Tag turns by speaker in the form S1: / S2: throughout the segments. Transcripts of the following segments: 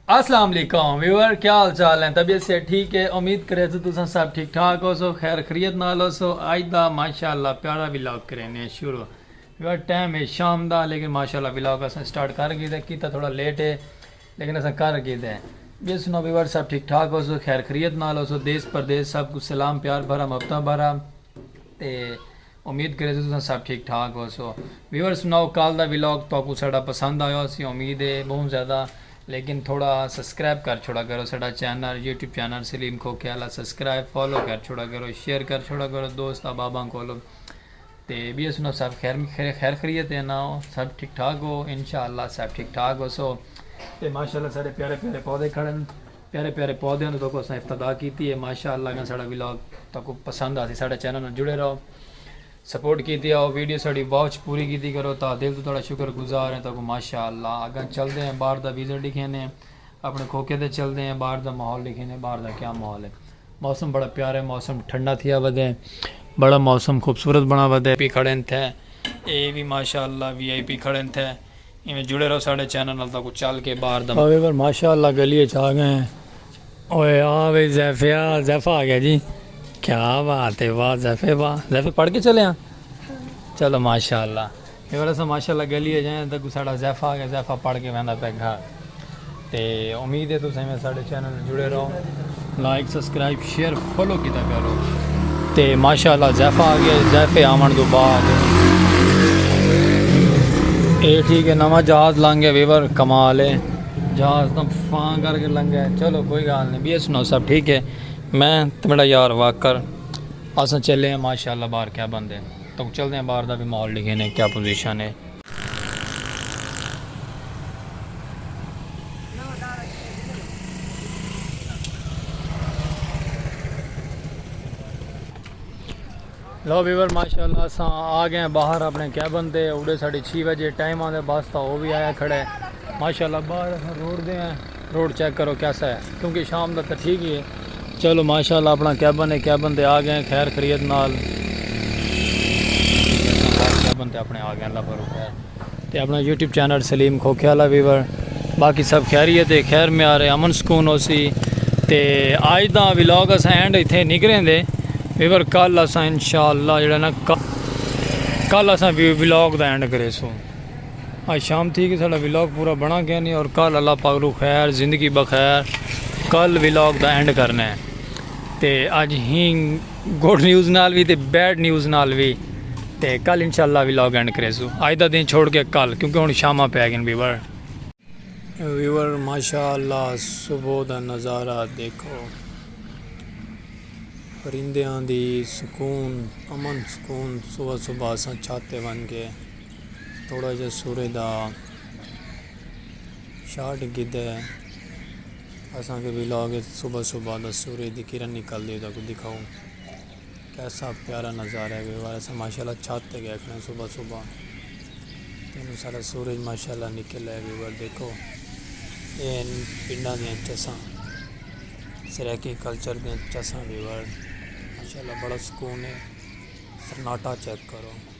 S1: السلام علیکم ویور کیا حال چال ہیں طبیعت سے ٹھیک ہے امید کرے تو تساں سب ٹھیک ٹھاک ہو سو خیر خرید نال ہو سو آج دا ماشاءاللہ پیارا ولاگ کرینے شروع ویور ٹائم ہے شام دا لیکن ماشاءاللہ ولاگ اساں سٹارٹ کر گئی دے کیتا تھوڑا لیٹ ہے لیکن اساں کر گئی دے یہ سنو ویور سب ٹھیک ٹھاک ہو سو خیر خرید نال ہو سو دیس پردیس سب کچھ سلام پیار بھرا مبتہ بھرا تے امید کریسوں تساں سب ٹھیک ٹھاک ہوسو۔ ویورز سناؤ کال دا ولاگ تہاکوں ساڈا پسند آیا ہوسی امید ہے بہوں زیادہ لیکن تھوڑا سسکرائب کر چھوڑا کرو ساڈا چینل یوٹیوب چینل سلیم کھوکھے آلا سسکرائب فالو کر چھوڑا کرو شیئر کر چھوڑا کرو دوست احباباں کولو تے بیئے سناؤ سب خیر خریت ہے نا سب ٹھیک ٹھاک ہو انشاءاللہ سب ٹھیک ٹھاک ہوسو تے ماشاءاللہ ساڈے پیارے پیارے پودے کھڑن۔ پیارے پیارے پودیاں توں تہاکوں اساں افتدا کیتی ہے ماشاء اللہ گن ساڑا ولاگ تہاکوں پسند آسی ساڑے چینل نال جڑے رہو سپورٹ کیتی آؤ ویڈیو ساڑی واچ پوری کیتی کرو تہا دل توں تہاڑا شکر گزار ہیں تہاکوں ماشاء اللہ اگاں چلدے ہیں باہر دا ویزر ڈکھینے اپنے کھوکے تے چلدے ہیں باہر دا ماحول ڈکھینے باہر دا کیا ماحول ہے موسم بڑا پیارا ہے موسم ٹھنڈا تھیا ودے بڑا موسم خوبصورت بنا ودے پی کھڑے تھے اے بھی ماشاء اللہ وی آئی پی کھڑے تھے ایویں جڑے رہو ساڈے چینل نال تہاکوں چل کے باہر دا مزہ آویور ماشاء اللہ گلی اچ آ گئے ہیں اوئے آ وئی زیفیا زیفا آ گیا جی کیا بات ہے واہ زیفے واہ زیفے پڑھ کے چلے ہاں چلو ماشاء اللہ ویور اسا ماشاء اللہ گلی اچ آئے ہیں تہاکوں ساڈا زیفا آ گیا زیفا پڑھ کے ویندا پیا گھر تے امید ہے تساں ایویں ساڈے چینل نال جڑے رہو لائک سبسکرائب شیئر فالو کیتا کرو تے ماشاءاللہ زیفا آ گیا زیفے آون دو بعد اے ٹھیک ہے نواں جہاز لنگ گیا ویور کمال ہے جہاز تم فان کر کے لنگ گیا چلو کوئی گال نہیں بی سنو سب ٹھیک ہے میں تے میرا یار واکر اساں چلے ہیں ماشاءاللہ باہر کیا بندے تو چلتے ہیں باہر دا بھی ماحول لکھے نے کیا پوزیشن ہے لو ویور ماشاءاللہ اساں آ گئے ہیں باہر اپنے کیبن تے اوڑے ساڑھے چھی بجے ٹائم آن دے بس تا وہ بھی آیا کھڑے ماشاءاللہ باہر اساں روڑ دے ہیں روڈ چیک کرو کیسا ہے کیونکہ شام دا تاں ٹھیک ہی ہے۔ چلو ماشاءاللہ اپنا کیبن ہے کیبن تے آگئے ہیں خیر خریت نال کیبن تے اپنے آگئے ہیں اللہ پر خیر تے اپنا یوٹیوب چینل سلیم کھوکھے والا ویور باقی سب خیریت ہے خیر میں آ رہے امن سکون ہو سی تے آج دا ولاگ اسا اینڈ اتھے نکریں دے ویور کل اسا انشاءاللہ جڑا نا کل اسا ولاگ دا اینڈ کرے سوں آج شام تھی کہ ساڑا ویلاگ پورا بنا گیا نہیں اور کل اللہ پاک رو خیر زندگی بخیر کل ویلاگ دا اینڈ کرنا ہے تے آج ہی گوڈ نیوز نال بھی تے بیڈ نیوز نال بھی تے کل انشاءاللہ ویلاگ اینڈ کرے سو آج دا دن چھوڑ کے کل کیونکہ ہن شامہ پہ گئے ویور ویور ماشاءاللہ صبح دا نظارہ دیکھو پرندیاں دی سکون امن سکون صبح صبح اساں چھاتے ون گئے تھوڑا جا سورے دا شارٹ گدھے اساں کے ویلاگ اچ صبح صبح دا سورے دی کرن نکل دی دا کو دکھاؤں کیسا پیارا نظارہ ہے ویوار اساں ماشاءاللہ چھت تے گئے کھڑے صبح صبح تینوں سارا سورج ماشاءاللہ نکل ہے ویوار دیکھو این پنڈا دیاں چساں سریکی کلچر دیاں چساں ویوار ماشاءاللہ بڑا سکون ہے سناٹا چیک کرو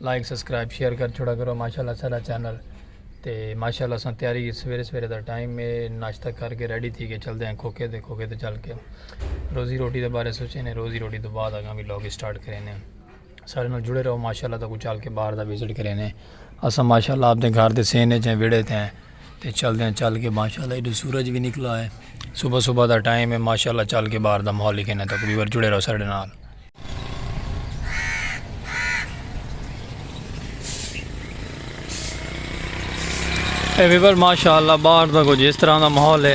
S1: لائک سبسکرائب شیئر کر چھوڑا کرو ماشاءاللہ سارا چینل تے ماشاءاللہ سان تیاری سویرے سویرے دا ٹائم میں ناشتہ کر کے ریڈی تھی کے چل دے ہیں کھوکے دے کھوکے دے چل کے روزی روٹی دے بارے سوچے نے روزی روٹی دے بعد اگاں بھی لوگ سٹارٹ کرے نے سارے نال جڑے رہو ماشاءاللہ تکو چل کے باہر دا وزٹ کرے نے اسا ماشاءاللہ اپ دے گھر دے سینے چیں ویڑے تے ہیں تے چل دے ہیں چل کے ماشاءاللہ ایڈو سورج بھی نکلا ہے صبح صبح دا ٹائم ہے ماشاءاللہ چل کے باہر دا ماحول ہی کہنا تک ویور جڑے رہو سارے نال اے ویور ماشاءاللہ باہر دا کچھ اس طرح دا محول ہے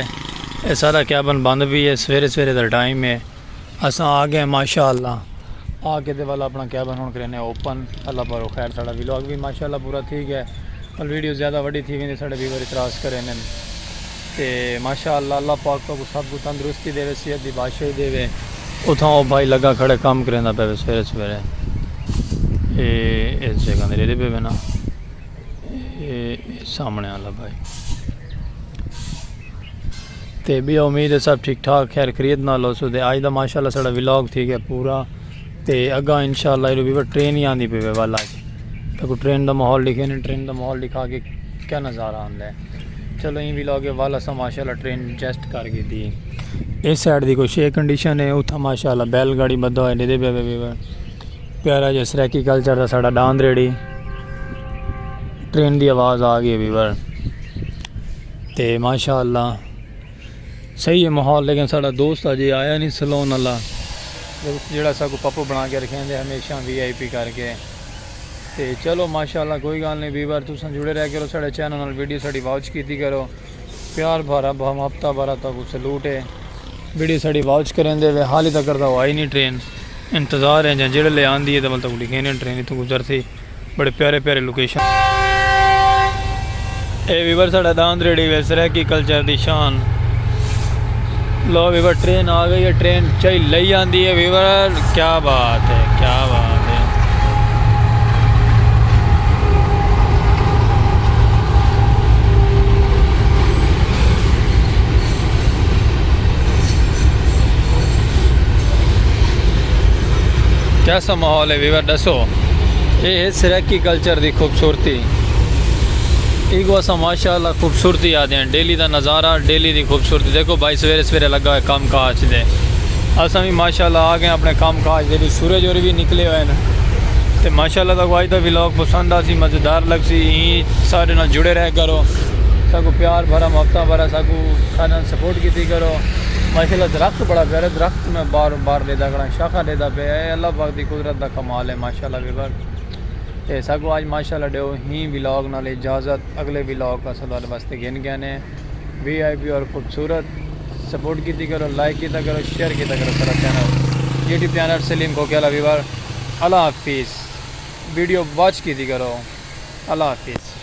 S1: اے سارا کیابن بند بھی ہے سویرے سویرے دا ٹائم ہے اساں آگے ماشاءاللہ آگے دے والا اپنا کیابن ہون کرنے اوپن اللہ پارو خیر ساڑا ویلوگ بھی ماشاءاللہ پورا تھی گیا اور ویڈیو زیادہ وڈی تھی گئی ساڑے ویور اتراز کرنے تے ماشاء اللہ اللہ پاک تہاکوں سب کوں تندرستی ڈیوے صحت دی بادشاہی ڈیوے اتھاں او بھائی لگا کھڑے کم کریندا پے وے سویرے سویرے اے اس جگہ دے ریلے پے وے نا اے سامنے والا بھائی تے بیا امید ہے سب ٹھیک ٹھاک خیر خرید نال ہو سو تے آج دا ماشاء اللہ ساڑا ولاگ تھی گیا پورا تے اگاں انشاءاللہ ایڈو بیبر ٹرین ہی آندی پہ والا جی تو کو ٹرین دا ماحول لکھے نے ٹرین دا ماحول لکھا کے کیا نظارہ آندہ ہے چلو ہی بھی لوگ ہے والا سا ماشاءاللہ ٹرین جیسٹ کر گی دی ہے اس سائڈ دی کوئی شے کنڈیشن ہے اتھا ماشاءاللہ بیل گاڑی بدھو ہے دیدے بیبر بیبر پیارا جس ریکی کلچر دا ساڑا ڈاند ریڈی ٹرین دی آواز آگی ہے بیبر تے ماشاءاللہ صحیح ہے ماحول لیکن ساڑا دوست اجے آیا نہیں سلون اللہ دوست جیڑا سا کو پپو بنا کے رکھیں دے ہمیشہ وی آئی پی کر کے تے چلو ماشاءاللہ کوئی گال نہیں ویور تساں جڑے رہ کرو ساڑے چینل نال ویڈیو ساڑی واچ کیتی کرو پیار بھارا بھم ہفتہ بھارا تا کو سلوٹ ہے ویڈیو ساڑی واچ کریں دے وے حالی تکر دا آئی نہیں ٹرین انتظار ہیں جاں جیڑے لے آن دیئے دے ول تک لکھیں دے ٹرین اتھوں گزر تھی بڑے پیارے پیارے لوکیشن۔ اے ویور ساڑا داند ریڑھی وے سرائیکی کلچر دی شان لو ویور ٹرین آ گئی ہے ٹرین چائی لئی آندی ہے ویور کیا بات ہے کیا بات ہے کیسا ماحول ہے ویور ڈسو اے ہے سرائیکی کلچر دی خوبصورتی ایکو اساں ماشاءاللہ خوبصورتی آدھیاں ڈیلی دا نظارہ ڈیلی دی خوبصورتی دیکھو بھائی سویرے سویرے لگا ہوئے کام کاج دے اساں بھی ماشاءاللہ آگئے اپنے کام کاج دے بھی سورج ہوری بھی نکلے ہوئے ہیں تے ماشاءاللہ تاکو آج دا ویلاگ پسند آسی مزیدار لگ سی ایں سارے نال جڑے رہ کرو ساکو پیار بھرا محبتہ بھرا ساکو سارے نال سپورٹ کیتی کرو ماشاءاللہ درخت بڑا پیارا درخت میں بار بار دے دا گڑا شاخہ دے دا پئے اے اللہ پاک دی قدرت دا کمال اے ماشاءاللہ ویور تے ساکوں آج ماشاءاللہ ڈیو ہی ولاگ نال اجازت اگلے ولاگ اساں تہاڈے واسطے گھن گئے نے وی آئی پی اور خوبصورت سپورٹ کیتی کرو لائک کیتا کرو شیئر کیتا کرو سارا چینل یوٹیوب چینل سلیم کو کیا ویور اللہ حافظ ویڈیو واچ کیتی کرو اللہ حافظ